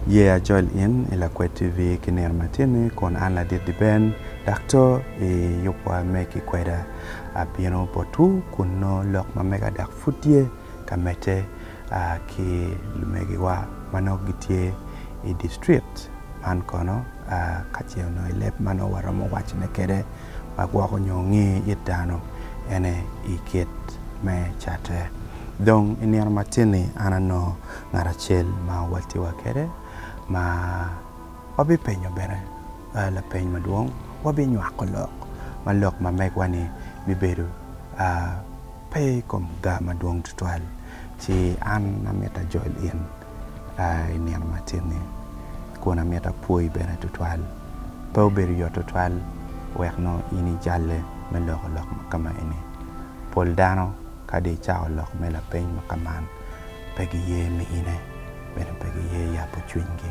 Ye acol in i Lakwed TV ki nino matini kun an ladit Liben dok to i yubwa me kikweda. Abino botwu kun nongo lok ma mega dok pud tye ka medde. a ki lumegiwa ma nongo gitye i distrikt man kono a ka ce onongo i leb ma nongo waromo wacone kwede ma gwoko nyo nge it dano ene i kit me catte. Dong i nino matin-ni an anongo ngat acel ma wawalti wa kwede ma wabipenyo bene a lapeny madwong wabinywako lok ma lok ma megwa ni bibedo a pe i kom gaa madwong tutwal, ci an amito ajol in i nino matin-ni, kun amito apwoyi bene tutwal. Pe obedo yot tutwal wek nongo in ijalle me loko lok ma ka maeni. Pol dano kadi i cako lok me lapeny ma ka man, pe giye miyine, bene pe giye yabo cwinygi.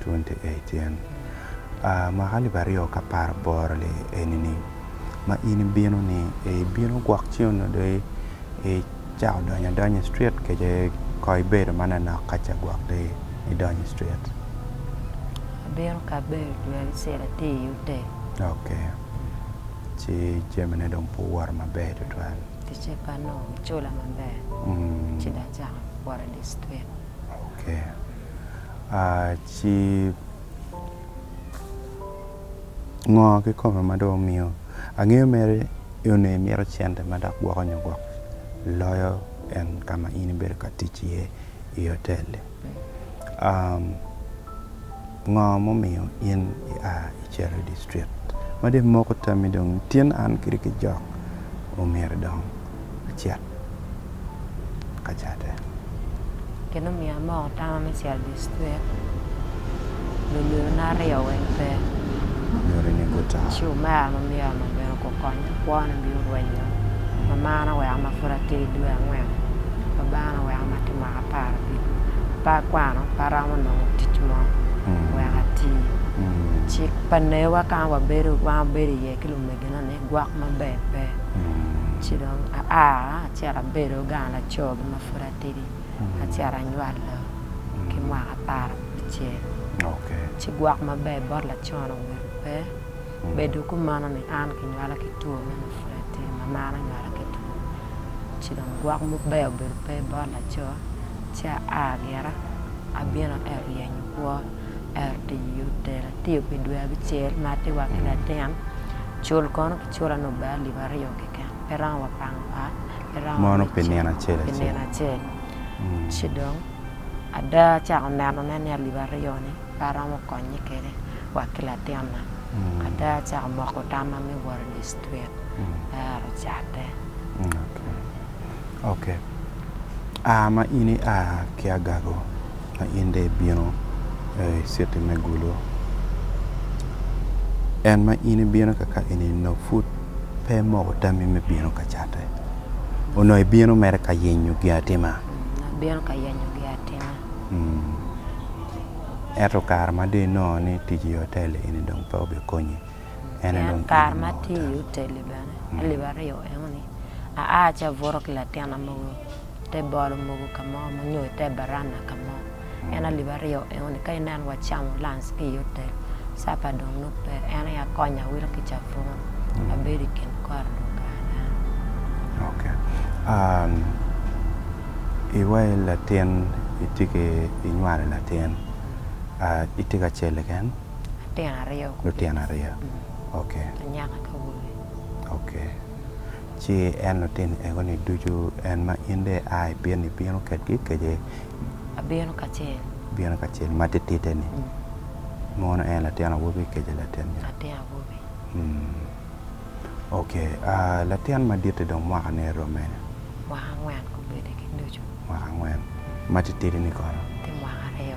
28 Mwaka alip aryo k'apar aboro li enini ma in ibino-ni, ee ibino gwok Cion nodok icako donyo adonya i cwit kece ko ibedo manonok ka ce gwok dong idonyo i cwit. Ok, ci jamine dong pe owoto maber tutwal. Ci ngo kikome ma dong omiyo angeyo mere nongo imito cente ma dok gwoko nyo gwok loyo en ka ma in ibedo ka tic iye i otel-li? Ngo mumiyo in ia icito idi stret? Meno dong imoko tammi dong tin an kadi kijok omyero dong acit. ka catte. Gin omiyo amoko tama me cito distrik lunyodona aryo weng pe. Ci omera ma myero ma bene gukonya kwona bino rwenyo. Mamana oweko ma pud atye ki dwe angwen. Babana oweko ma atye mwaka apar abiro. Pe akwano, pe aromo nongo tic mo wek ati. Cik pa newa ka ma wabedo iye ki lumegina ni. Gwok maber pe. Ci dong aa, acito abedo gang laco gi ma pud atidi, acito anywalo ki mwaka apar abicel. Ci gwok maber bot lacon obedo pe. Bedo kumeno ni an kinywala ki two me ma pud atidi, mamana onywala ki two. Ci dong gwok maber obedo pe bot laco, ci aa gira abino ero yenyo kwo. Ento i otela atiyo pi dwe abicel ma atiwa ki latin, cul kono kicula ni ober alip aryo keken, pe romo wa pango ot, pe romo wa me ceng pi nino acel. Ci dong ada acako nenone ni alip aryo ni pe aromo konye kwede wa ki latinna, ada acako moko tamma me wot i distrik, aero catte. Ok. A ma in ia ki agago, ma in dong ibino i citi me gulo. En ma in ibino ka ka eni nongo pud pe imoko tammi me bino ka Catte. Onongo ibino mere ka yenyo giatima. Abino ka yenyo giatima. Ento kare ma dong inongo ni tic i otel eni dong pe obikonyi. en aye dong kare ma atye i Uteli bene alip aryo enoni aa ci abuto ki latina mogo i te bolo mogo ka mo nyo i te baranda ka mo en alip aryo enoni ka ineno wacamo lanc ki i Utel capa dong nongo pe en aye akonyo awilo ki cabun abedo i kin kore dong kare meno. Ok iwaci latin itye ki inywalo latin itye ka cele keken? Lutino aryo kulu. Lutino aryo ok. Anyaka ki awobi. Ok ci en lutini ego ni ducu en ma in dong ia i piny ni ibino kedgi kece? Abino kacel. Ibino kacel ma titite ni mono en latin awobi kece latin nya? Latin awobi. Ok latin maditti dong mwaka ne rome? Mwaka angwen gubedo ki ducu. Mwaka angwen. Ma titidi ni kono? Tye mwaka aryo.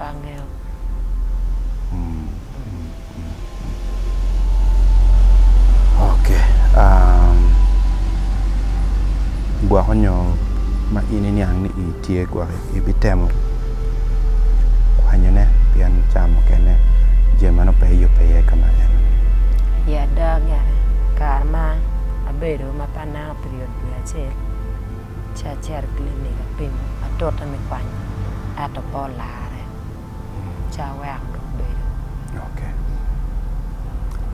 Angeo. Ok gwoko nyo ma in iniang ni i tye gwok i bi temo kwanyone pien cawa mukene jami meno pe iyube iye ka ma en. I ada gene kare ma abedo ma paneno period dwe acel. ci acito i clinic apimo atute me kwanyo ento pe olarre ci aweko dong bedo. Ok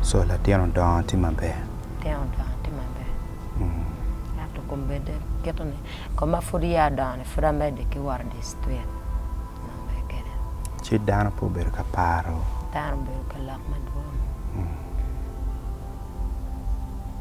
so latin odongo tye maber? Latin odongo tye maber ento kombedde kite ni koma pud ya odongo ni pud amedde ki wot idye citwet nongo mere kene. Ci dano pe obedo ka paro? Dano obedo ka lok madwong.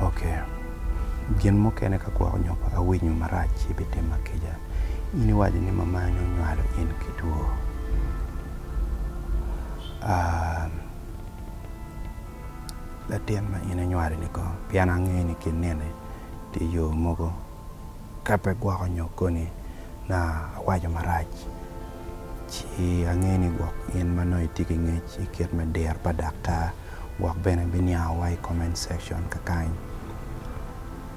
Ok. Gin mukene ka gwoko nyo pa ka winyo marac ci bitimma kica. In iwaco ni mamani onywalo in ki two. Aam. Latin ma in inywalo-ni kong? Pien angeyo ni ki nene tye yo mogo ka pe gwoko nyo koni na awaco marac ci angeyo ni gwok in ma nongo itye ki ngec i kit me diro pa daktar gwok bene biniango wa i comment section kakany.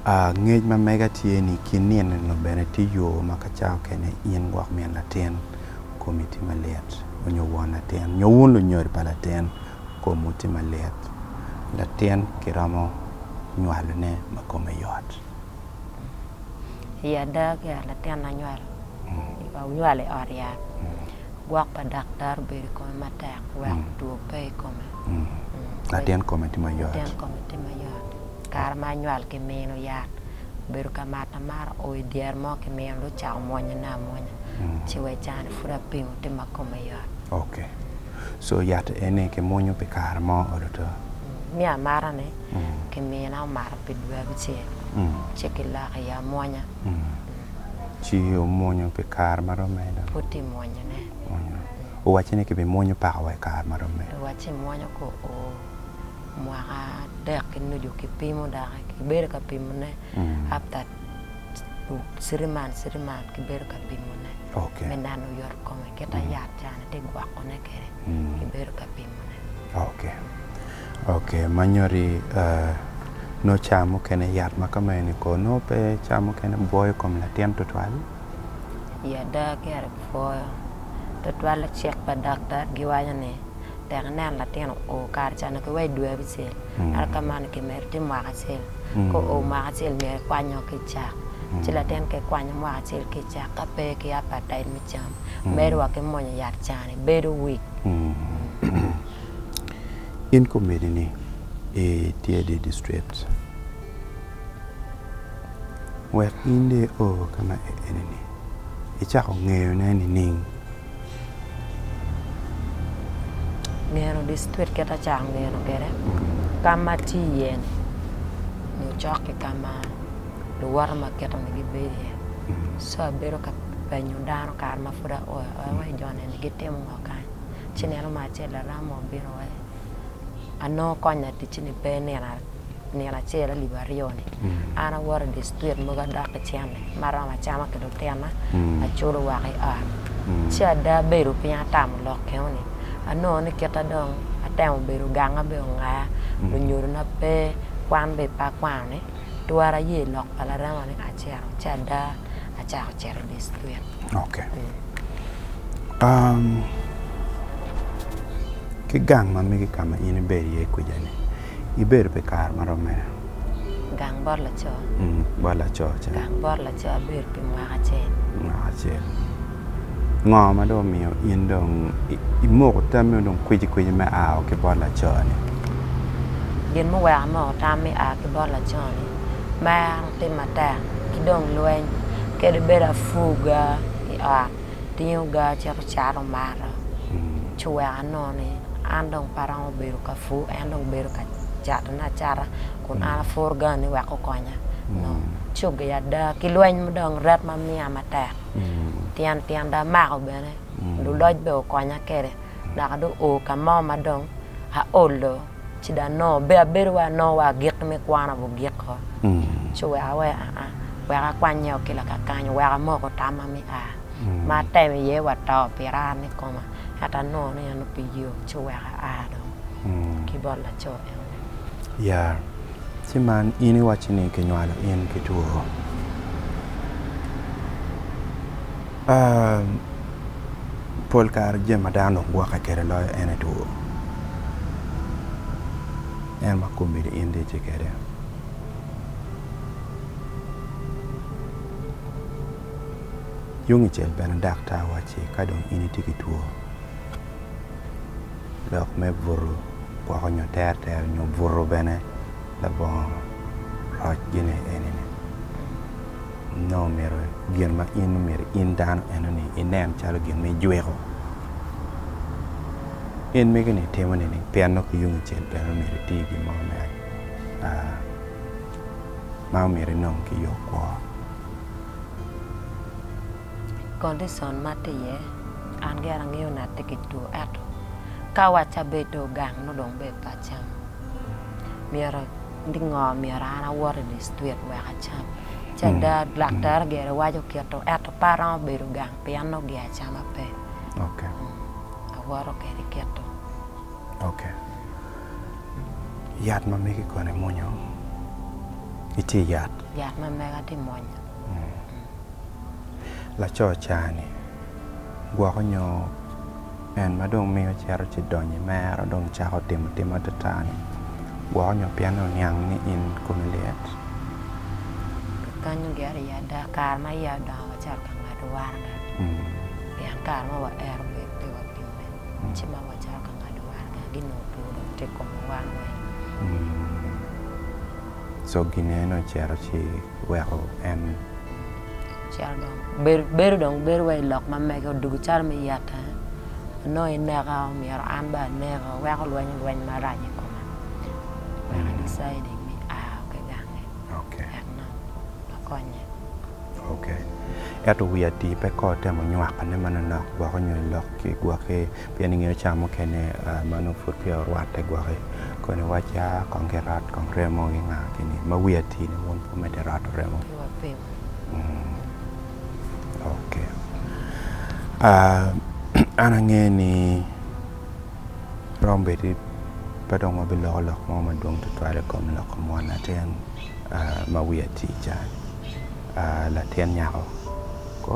Aah ngec ma mega tye ni ki nino ni bene tye yo ma ka cawa kene in gwok min latin komi tye malit onyo won latin nyo wun lunyodi pa latin komwu tye malit latin ki romo nywalo ne ma kome yot. I ada ki ot latin na nywalo i ot yat. gwok pa daktar obedo i kome matek wek two pe i kome. Latin kome tye mayot. Latin kome tye mayot. Kare ma anywal ki mino yat obedo ka mato amata oo i dyere mo ki mino dong ocako mwonye na amwonya ci wa i cani pud apingo tye ma kome yot. Ok so yat eni ki mwonyo pi kare mo olo two? Mi amata ni ki mina omato pi dwe abicel ci ki lok iye amwonya. ci omwonyo pi kare ma romo aye dong. Pud tye mwonyone. Mwonyo. Owacci ni kibimwonyo paka wa i kare ma romo aye. Owacci imwonyo ko o mwaka adek ki nucu kipimo doki kibedo ka pimone after three months three months kibedo ka pimone Okay. me nano yot kome kita yat cani tye gwokone kwede kibedo ka pimone. Okay. Ok manyodi nongo cawa mukene yat ma ka ma eni ko nongo pe cawa mukene bwoyo kom latin tutwal? I ada kare bwoyo tutwal lacik pa daktar giwaco ni tek ineno latin oo kare ca onongo kiweyo dwe abicel ento ka ma ni kimedo tye mwaka acel ka oo mwaka acel myero ikwanyo ki cak ci latin ka ikwanyo mwaka acel ki cak ka pe ki apatait me cam medo wa ki mwonyo yat ca ni bedo weak. In komiti ni itye i dye district wek in dong i oo ka ma eni ni icako ngeyo ne nining? Ngeno district kit ma acako ngeno kwede ka ma atye iye ni nyo cok ki ka ma luwote ma akito ni gibedo iye so abedo ka penyo dano kare ma pud aoyo aoya wa i jo ne ni gitimo ngo kany. Ci nino mo acel Aramo obino wa i, anongo kony laticci-ni pe nino acel alip aryo-ni. An awoto i dye citwit mogo adok ki cente ma aromo acama ki lutinna, aculo woko i ot. Ci ada abedo piny atamo lok kengo ni, anongo ni kita dong atemo bedo ganga bene ongaya, lunyodona pe, kwan bene pe akwano-ni, twara aye i lok pa Laramo-ni, acito. Ci ada acako cito i dye citwit. Ok ki gang ma mege ka ma in ibedo iye kwija-ni ibedo pi kare ma romo mene? Gang bot laco? Bot laco ca. Gang bot laco abedo pi mwaka acel. Mwaka acel ngo ma dong omiyo in dong imoko tammi dong kwicikwci me ao ki bot laco-ni? Gin muweko amoko tam me ao ki bot laco-ni, mero. te matek ki dong lweny kadi bed apuga i ot tingoga cito cato mato ci wek anongo ni an dong pe aromo bedo ka pur en dong bedo ka catone acata kun an apuru gang ni wek okonya nongo coggi ada ki lweny ma dong ret ma miya matek tyen tyen dong amako bene luloc bene okonya kwede naka dong oo ka mo ma dong aolo. ci dong nongo be abedo wa nongo wa agik me kwana bu giko ci weka wai aa wek akwanye o ki lakakanyo wek amoko tamma me a ma atemo iye wa to pira an i koma ento anongo ni en pi yo ci weka a dong ki bot laco enoni. Ya ci man in iwacci ni kinywalo in ki two? Pol kare jami ma dano dong gwokke kwede loyo en aye two. En ma komi dong in dong itye kwede. Tungcel bene daktar wacci ka dong in itye ki two lok me buto woko nyo terter nyo buto bene. labongo roc gine eni ni nongo omyero gin ma in omyero in dano eno ni inen calo gin ma ijwiko in mege ni itimo ni ni pien nongo ki yungi cel bene omyero iti gin mo me ma omyero inong ki yo kwo. Condition ma ati iye an gire angeyo ni ati ki two eto ka waci abedo gang nongo dong bed pa cam. myero ni ngo myero an awot i dictrik wek acam ci ada daktar gire waco kito ento pe aromo bedo gang pien nongo gia acama pe awoto kede kito. Ok yat ma megi kono imwonyo iti yat? Yat ma mega ti mwonyo. Laco cani gwoko nyo En ma dong miyo cito ci donyo i mero dong cako timo tim atata-ni gwoko nyo pien oniang ni in komi lit. Kikanyu gire i ada, kare ma iya odongo wacito ka ngado waraga, pien kare ma waero bedo pe wapime. Ci ma wacito ka ngado waraga-gi nongo pe odong tye i kom wa wan weng. Coggine ni ocito ci weko en. Cito dong bedo dong bedo wa i lok ma mege odugo calo me yeta onongo ineka myero an bene aneka weko lwenyo lweny marac i koma wek I deciding ni a ki gange wek nongo akonye. Ok ento wi atii pe ko temo nywakone manonok gwoko nyo lok ki gwoki. Pien ingeyo ca mukene ma nongo pud peya orwatte gwokki, koni wacca kong kirat kong remo ki nga kini ma wi atii ne wun pe wumedde rato remo? Pe wapeyo. Mmh ok aah an angeyo ni romo bedi pe dong wabiloko lok mo madwong tutwal i kom loko mwan latin ma wi atii ca, latin nyako ko.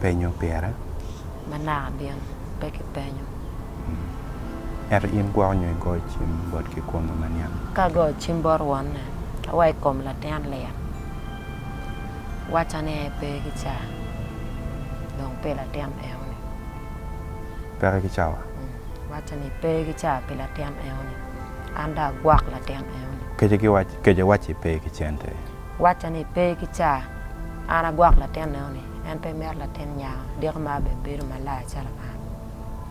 penyo pire? Ma naka gin pe kipenyo. Ento in gwoko nyo igoyo cim bot kikome ma niang? Ka agoyo cim bot wonne, ka wa i kom latin lik, wacca ni en pe ki cawa, dong pi latin eno-ni. Peke ki cawa? Wacca ni pe ki cawa pi latin eno-ni, an dong agwok latin eno-ni. Kece wacci pe ki cente, Wacca ni, 'Pe ki ca, an agwok latin enoni, en pe mito latin nyako diko ma bene bedo malaya calo man.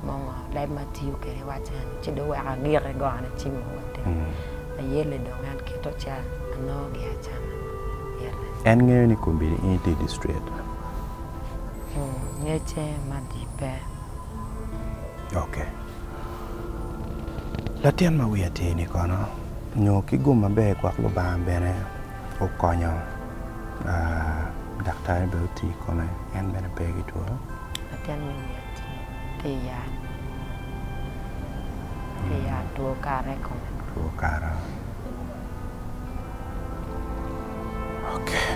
Mongo leb ma tiyo kwede i wacca eno, ci dong weko agike gone ci mogo atir. Ayelle dong en kito ca, anongo gia acama. Yelle. En ngeyo ni kombeddi in itye i district? Ngecce ma di pe. Ok. Latin ma wiye atir-ni kono? Nyo ki gum maber gwok Lubanga bene okonyo daktari bene oti i kome en bene pe ki two. Latin me Yati tye i yat, tye i yat two kara i kome. Two kara okay.